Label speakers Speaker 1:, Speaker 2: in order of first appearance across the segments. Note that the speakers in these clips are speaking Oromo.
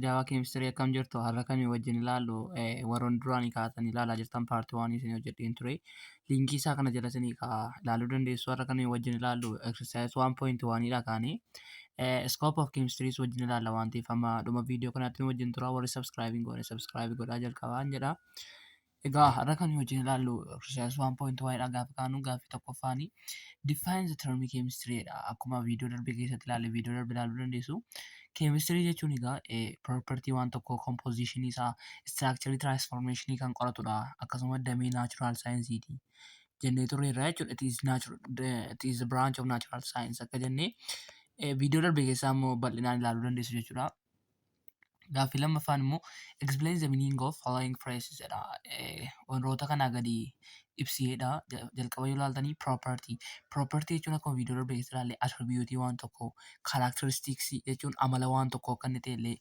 Speaker 1: Daawaa keemistirii akkam jirtu har'a kamii wajjin ilaallu warroon duraan kaatan ilaalaa jirtan paartii waan isin hojjedheen ture liinkii isaa kana jala isin ilaaluu dandeessu har'a kamii wajjin ilaallu exercise 1.1 dha kaanii scope of chemistries wajjin ilaalla waan ta'eef amma dhuma viidiyoo kanaatti nu wajjin tura warri subscribe hin goone subscribe godhaa jalqabaan jedha. Egaa har'a kan hojiin ilaallu exercise 1.1 dha gaafa kaanu gaaffii tokkoffaani define the term chemistry dha. Akkuma viidiyoo darbe keessatti ilaalle viidiyoo darbe ilaaluu dandeessu. Chemistry jechuun egaa property waan tokkoo composition isaa structure transformation kan qoratudha. Akkasuma damee natural science ti. Jennee turre irraa jechuudha. It is natural it is branch of natural science akka jennee viidiyoo darbe keessaa immoo bal'inaan ilaaluu dandeessu jechuudha. Gaaffii lammaffaan immoo explain the meaning of following phrases jedha. Eh, Wantoota kanaa gadi ibsiidha. Ja- Jalqaba yoo ilaaltanii property. Property jechuun akkuma viidiyoo darbe keessa ilaalle attribute waan tokkoo characteristics jechuun amala waan tokkoo akka inni ta'e illee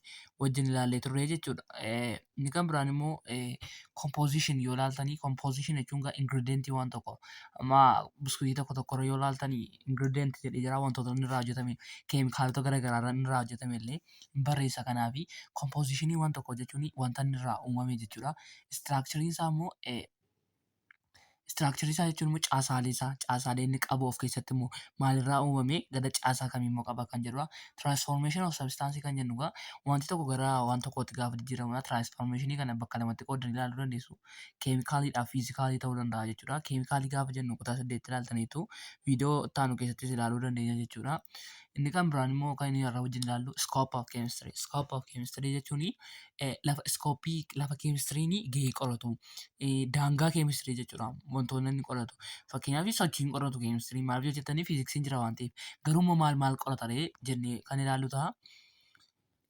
Speaker 1: wajjin ilaallee turre jechuudha. Eh, Inni kan biraan immoo eh, composition yoo ilaaltanii composition jechuun gaa ingredient waan tokko amma biskuitii tokko tokko irra yoo ilaaltanii ingredient jedhee jira wantoota inni irraa hojjetame keemikaalota garaagaraa irraa inni irraa hojjetame illee hin barreessa kanaaf kompoozishinii waan tokko jechuun wanta inni irraa uumame jechuudha. Istiraakchariin isaa immoo istiraakcharii isaa jechuun immoo caasaalee isaa caasaalee inni qabu of keessatti immoo maalirraa uumame gara caasaa kamii immoo qaba kan jedhudha. Tiraansfoormeeshinii of sabistaansii kan jennu egaa wanti tokko gara waan tokkootti gaafa jijjiiramudha. Tiraansfoormeeshinii kana bakka lamatti qoodanii ilaaluu dandeessu. Keemikaalii fi fiizikaalii ta'uu danda'a jechuudha. Keemikaalii gaafa jennu kutaa saddeetti ilaaltaniitu viidiyoo itti aanu keessattis ilaaluu dandeenya jechuudha. Inni kan biraan immoo kan inni irraa wajjin ilaallu scope of chemistry. Scope of chemistry jechuun lafa iskooppii lafa keemistiriin gahee qoratu daangaa keemistirii jechuudha wantoonni inni qoratu. Fakkeenyaaf sochiin qoratu keemistirii maaf yoo jettanii fiiziksiin jira waan ta'eef. Garuu immoo maal maal qorata ree jennee kan ilaallu ta'a.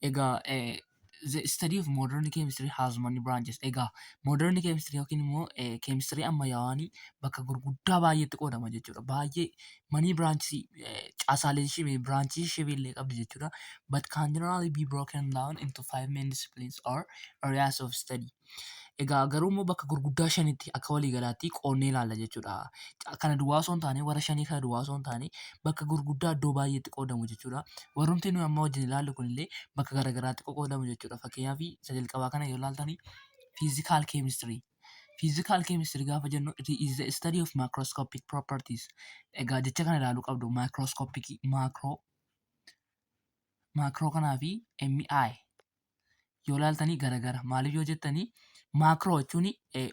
Speaker 1: Egaa eh, the study of modern chemistry has many branches. Egaa modern chemistry yookiin immoo eh, chemistry ammayyaawaan bakka gurguddaa baay'eetti qoodama jechuudha. Baay'ee manii branchii eh, caasaalee shibee branchii shibee illee qabdi jechuudha. But can generally be broken down into five main disciplines or areas of study. Egaa garuu immoo bakka gurguddaa shanitti akka walii galaatti qoonnee ilaalla jechuudha. Kana duwwaa osoo hin taane warra shanii kana duwwaa osoo hin taane bakka gurguddaa iddoo baay'eetti qoodamu jechuudha. Warrumti nuyi amma wajjin ilaallu kunillee bakka garaagaraatti qoqqoodamu jechuudha. Fakkeenyaaf isa jalqabaa kana yoo ilaaltani fiizikaal keemistirii. Fiizikaal keemistirii gaafa jennu it is the study of microscopic properties. Egaa jecha kana ilaaluu qabdu microscopic macro macro kanaa fi MI yoo laaltanii garagara maaliif yoo jettanii maakroo jechuun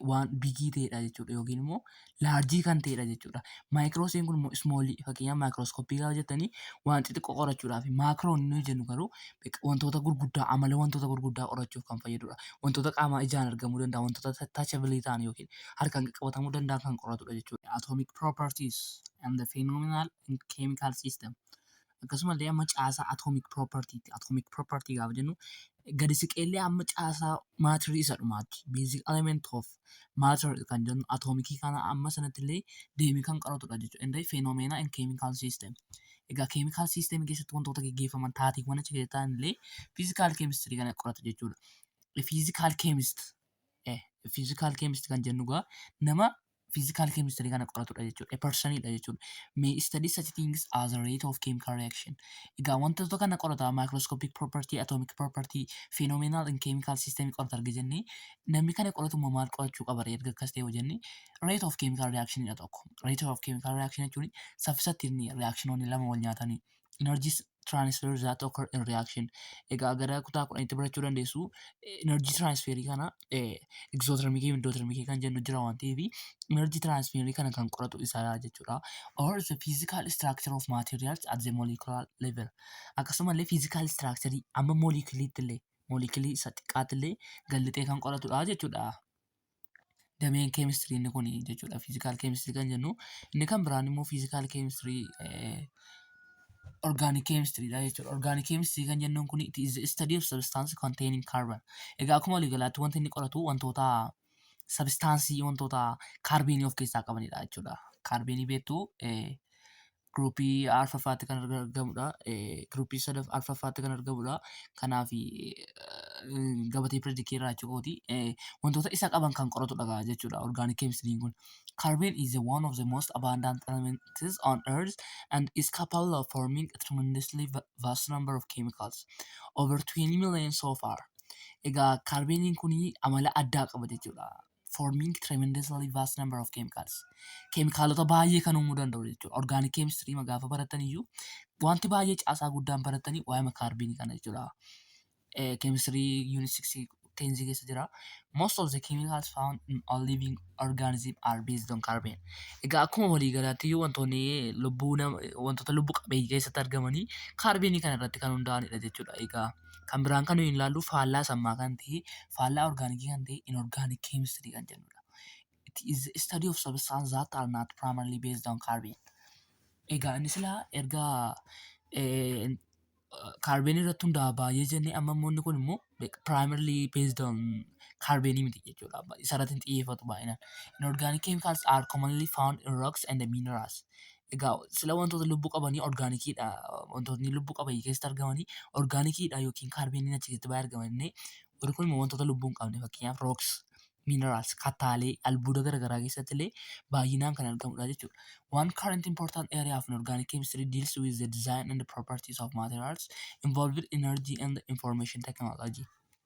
Speaker 1: waan bigii ta'edha jechuudha yookiin immoo laarjii kan ta'edha jechuudha. Maayikiroosiin kun immoo ismoolii fakkeenyaaf maayikiroosikoppii gaafa jettanii waan xixiqqoo qorachuudhaaf maakiroon inni jennu garuu wantoota gurguddaa amala wantoota gurguddaa qorachuuf kan fayyadudha. Wantoota qaamaa ijaan argamuu danda'a wantoota taachabilii ta'an yookiin harkaan qaqqabatamuu danda'an kan qoratudha jechuudha. Atomic properties and the phenomenal in chemical system. Akkasumallee amma caasaa atomic property ti. Atomic property gaafa jennu gadi siqeellee amma caasaa maatirii isa dhumaatti. Basic element of matter kan jennu atomikii kana amma sanattillee deemee kan qaratudha jechuudha. Inni fenomena in chemical system. Egaa chemical system keessatti wantoota gaggeeffaman taateewwan achi keessa ta'anillee physical chemistry kana qorata jechuudha. Physical chemist eh, physical chemist kan jennu egaa nama physical chemistry kana qoratudha jechuudha. A person dha jechuudha. May study such things as rate of chemical reaction. Egaa wantoota kana qorata microscopic property, atomic property, phenomenal in chemical system qorata arga jenne namni kana qoratu immoo maal qorachuu qaba ree erga akkas ta'e yoo jenne rate of chemical reaction dha tokko. Rate of chemical reaction jechuun saffisatti inni reactionoonni lama wal nyaatanii energies transfer that occur in reaction egaa gara kutaa kudhanitti barachuu dandeessu energy transfer kana exothermic fi endothermic kan jennu jira waan ta'eef energy transfer kana kan qoratu isaa jechuudha or the physical structure of materials at the molecular level akkasumallee physical structure amma moleculiitti illee moleculii isa xiqqaatti illee gallixee kan qoratudha jechuudha dameen keemistirii inni kun jechuudha. Fiizikaal keemistirii kan jennu inni kan biraan immoo fiizikaal keemistirii orgaanik keemistiriidha jechuudha. Orgaanik keemistirii kan jennuun kun it is the study of substance containing carbon. Egaa akkuma waliigalaatti wanti inni qoratu wantoota sabistaansii wantoota kaarbiinii of keessaa qabanidha jechuudha. Kaarbiinii beektu Giruupii arfaffaatti kan argamudha. Giruupii sadaf arfaffaatti kan argamudha. Kanaaf gabatee piredikii irraa jechuudha. Wantoota isa qaban kan qoratudha jechuudha orgaanik keemistiriin kun. Carbon is one of the most abundant elements on earth and is capable of forming a tremendously vast number of chemicals. Over 20 million so far. Egaa kaarbeeniin kun amala addaa qaba jechuudha. forming tremendously vast number of chemicals. Keemikaalota baay'ee kan uumuu danda'u jechuudha. Organic chemistry ma gaafa baratan iyyuu wanti baay'ee caasaa guddaan baratanii waa'ee makaarbiinii kana jechuudha. Eh, Chemistry unit 6 tenzi keessa jira. Most of the chemicals found in all living organism are based on carbon. Egaa akkuma walii galaatti iyyuu wantoonni lubbuu nama wantoota lubbuu qabeeyyii keessatti argamanii kaarbiinii kana irratti kan hundaa'anidha jechuudha. Egaa Kan biraan kan nuyi ilaallu faallaa sammaa kan ta'e, faallaa orgaanikii kan ta'e inorgaanik keemistirii kan jennudha. It is the study of substance that are not primarily based on carbon. Egaa inni silaa erga kaarbeenii irratti hundaa'a baay'ee jennee amma immoo inni kun immoo primarily based on carbon miti jechuudha. Isa irratti hin xiyyeeffatu baay'inaan. Inorgaanik chemicals are commonly found in rocks and minerals. Egaa sila wantoota lubbuu qabanii orgaanikiidha. Wantootni lubbuu qabanii keessatti argamanii orgaanikiidha yookiin kaarbeeniin achi keessatti baay'ee argama jennee warri kun immoo wantoota lubbuu hin qabne fakkeenyaaf rooks, minerals, kattaalee, albuuda garaagaraa keessatti illee baay'inaan kan argamudha jechuudha. One current important area of inorganic chemistry deals with the design and properties of materials involved energy and information technology.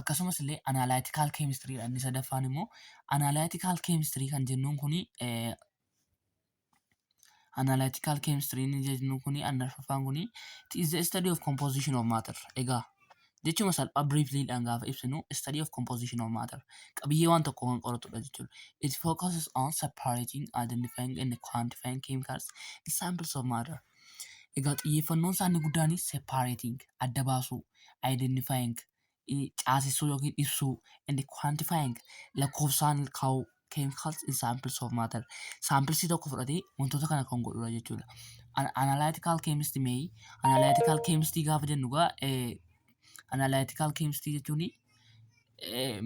Speaker 1: Akkasumas illee analytical chemistry dha inni sadaffaan immoo. Analytical chemistry kan jennuun kuni eh, analytical chemistry inni jennuun kuni inni arfaffaan kuni it is the study of composition of matter. Egaa jechuma salphaa briefly dhaan gaafa ibsinu study of composition of matter qabiyyee waan tokko kan qoratudha jechuudha. It focuses on separating, identifying and quantifying chemicals in samples of matter. Egaa xiyyeeffannoon isaa inni guddaan separating adda baasuu, identifying caasessuu yookiin ibsuu, and quantifying lakkoofsaan kaa'uu chemicals in samples of matter. Saampilisii tokko fudhatee wantoota kana kan godhudha jechuudha. An analytical chemist may analytical chemist gaafa jennu egaa analytical chemist jechuun eh,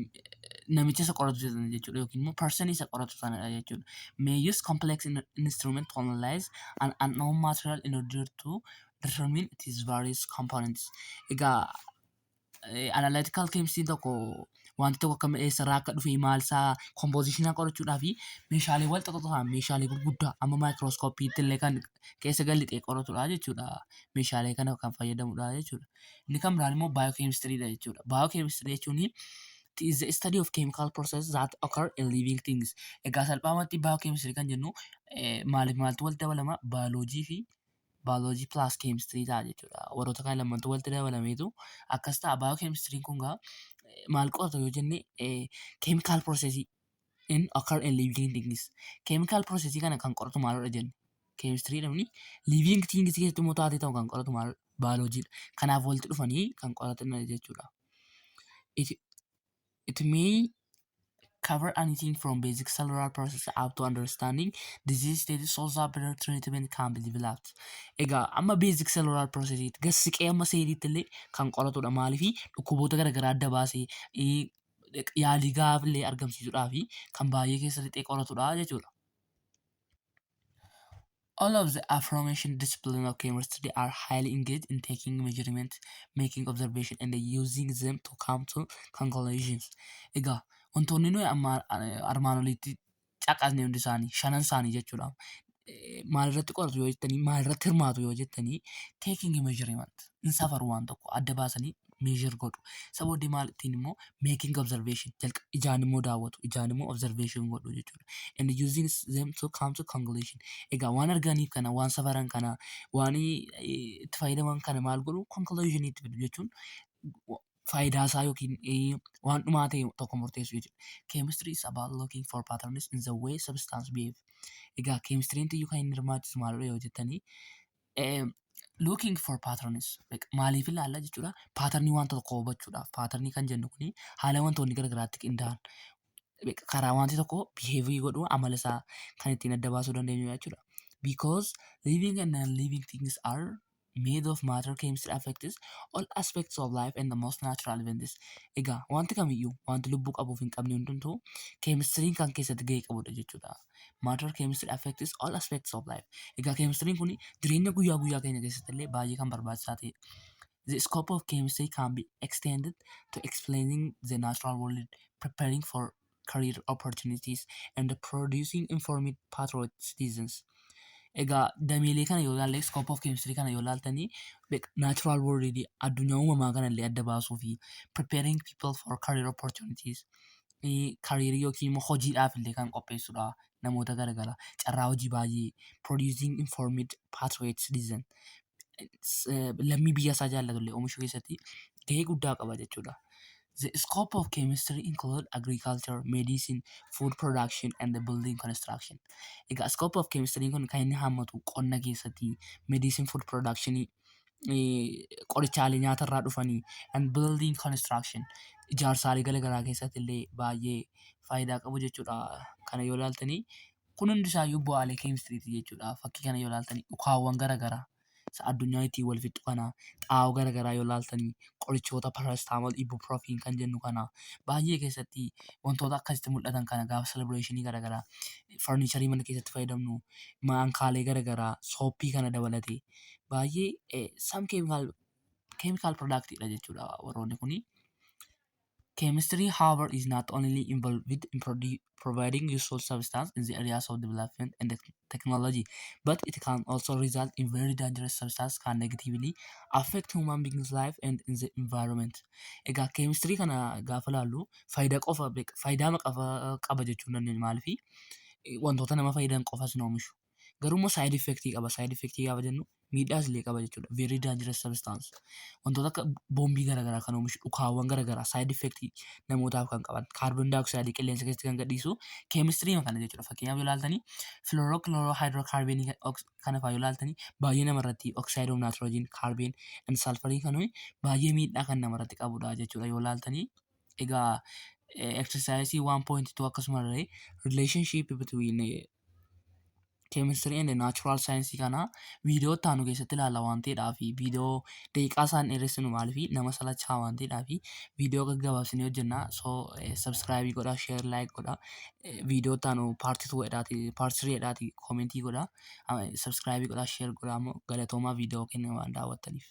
Speaker 1: namicha isa qoratu sana jechuudha yookiin immoo person isa qoratu sanadha jechuudha. May use complex in- instrument to analyze an unknown material in order to determine its various components. Egaa eh, analytical chemistry tokko wanti tokko akka eessarraa akka dhufe maal isaa composition qorachuudhaa fi meeshaalee wal xaxataa meeshaalee gurguddaa amma microscope illee kan keessa gad lixee qoratudha jechuudha. Meeshaalee kana kan fayyadamudha jechuudha. Inni kan biraan immoo biochemistry dha jechuudha. Biochemistry jechuun it is the study of chemical processes that occur in living things. Egaa salphaamatti biochemistry kan jennu eh, maaliif maaltu walitti dabalama? Biology fi biology plus chemistry ta'a jechuudha. Warroota kana lamantu walitti dabalameetu akkas ta'a. Biochemistry kun gaa eh, maal qorata yoo jenne eh, chemical process in occur in living things chemical process kana kan qoratu maalodha jenne chemistry dha muni living things keessatti immoo taatee ta'u kan qoratu maalodha biology dha kanaaf walitti dhufanii kan qoratan jechuudha it, it may cover anything from basic cellular process up to understanding disease status so that better treatment can be developed egaa amma basic cellular process gassiqee amma seeliitti illee kan qoratudha maaliifi dhukkuboota garaagaraa adda baasee yaalii gahaa illee argamsiisuudhaaf kan baay'ee keessa lixee qoratudha jechuudha. All of the aforementioned disciplines of chemistry are highly engaged in taking measurements, making observation and using them to come to conclusions. Egaa wantoonni nuyi amma- armaan olitti caqasne hundi isaanii shanan isaanii jechuudha. Eh, Maalirratti qoratu yoo jettanii maalirratti hirmaatu yoo jettanii taking measurement hin safaru waan tokko adda baasanii measure godhu. Isa booddee maal ittiin immoo making observation jalqa ijaan immoo daawwatu ijaan immoo observation godhu jechuudha. And using them to come to conclusion. Egaa waan arganiif kana waan safaran kana waan eh, itti fayyadaman kana maal godhu conclusion itti fidu jechuun wa- faayidaa isaa yookiin eh, waan dhumaa ta'e tokko murteessuu jechuudha. Chemistry is about looking for patterns in the way substance behave. Egaa keemistiriin tiyyu kan inni hirmaachisu maalidha yoo jettanii eh, looking for patterns like maaliif ilaalla jechuudha. Paatarnii wanta tokko hubachuudhaaf paatarnii kan jennu kuni haala wantoonni garaagaraatti qindaa'an like karaa wanti tokko biheevii godhu amala isaa kan ittiin adda baasuu dandeenyu jechuudha. Because living and non-living things are made of matter chemistry affects all aspects of life and the most natural events. Egaa wanti kamiyyuu wanti lubbuu qabuuf hin qabne hundumtuu keemistiriin kan keessatti gahee qabudha jechuudha. Matter chemistry affects all aspects of life. Egaa keemistiriin kun jireenya guyyaa guyyaa keenya keessatti illee baay'ee kan barbaachisaa ta'e. The scope of chemistry can be extended to explaining the natural world, preparing for career opportunities and producing informed patriotic citizens. Egaa dameelee kana yoo ilaalle scope of chemistry kana yoo ilaaltanii like natural world addunyaa uumamaa kana illee adda baasuu fi preparing people for career opportunities eh, career yookiin immoo hojiidhaaf illee kan qopheessudha namoota garagara carraa hojii baay'ee producing informed patriotic citizen lammii biyya isaa jaallatullee oomishuu keessatti gahee guddaa qaba jechuudha. The scope of chemistry include agriculture, medicine, food production and the building construction. Egaa scope of chemistry kun kan inni hammatu qonna keessatti, medicine food production, qorichaalee nyaata irraa dhufanii and building construction ijaarsaalee garaagaraa keessatti illee baay'ee faayidaa qabu jechuudha. Kana yoo ilaaltanii Kun hundi isaayyuu bu'aalee keemistiriiti jechuudha. Fakkii kana yoo ilaaltanii ukaawwan garaagaraa isa addunyaan ittiin wal fixxu kana xaa'oo garaagaraa yoo ilaaltanii qorichoota parastaamool ibuprofiin kan jennu kana baay'ee keessatti wantoota akkasitti mul'atan kana gaafa selebireeshinii garaagaraa farniicharii mana keessatti fayyadamnu maankaalee garaagaraa sooppii kana dabalatee baay'ee sam keemikaal keemikaal piroodaaktiidha jechuudha warroonni kuni. Chemistry, however, is not only involved in produ- providing useful substance in the areas of development and tech- technology, but it can also result in very dangerous substance can negatively affect human beings' life and in the environment. Egaa keemistirii kana gaafa laallu faayidaa qofa beeka- faayidaa maqafa qaba jechuu hin dandeenye maaliifi wantoota nama fayyadan qofas hin oomishu. Garuu immoo side effect qaba. Side effect gaafa jennu miidhaas illee qaba jechuudha. Very dangerous substance. Wantoota akka boombii garaagaraa kan oomishu dhukaawwan garaagaraa side effect namootaaf kan qaban carbon dioxide qilleensa keessatti kan gadhiisu chemistry kana jechuudha. Fakkeenyaaf yoo ilaaltanii fluorochlorohydrocarbon kana fa'aa yoo ilaaltanii baay'ee namarratti oxide of nitrogen carbon and sulfur kan ho'i baay'ee miidhaa kan namarratti qabudha jechuudha yoo ilaaltanii. Egaa exercise 1.2 akkasumallee relationship between eh, keemistirii and naachuraal saayinsii kana viidiyoo itti aanu keessatti ilaalla waan ta'eedhaa fi viidiyoo daqiiqaa isaan dheeressinu maal fi nama salachaa waan ta'eedhaa fi viidiyoo gaggabaabsinee hojjennaa soo sabsiraayibii godha sheer laayik godha viidiyoo itti aanu paartii tuu jedhaati paartii sirii jedhaati koomentii godha sabsiraayibii godha sheer godha ammoo galatoomaa viidiyoo kenna waan daawwattaniif.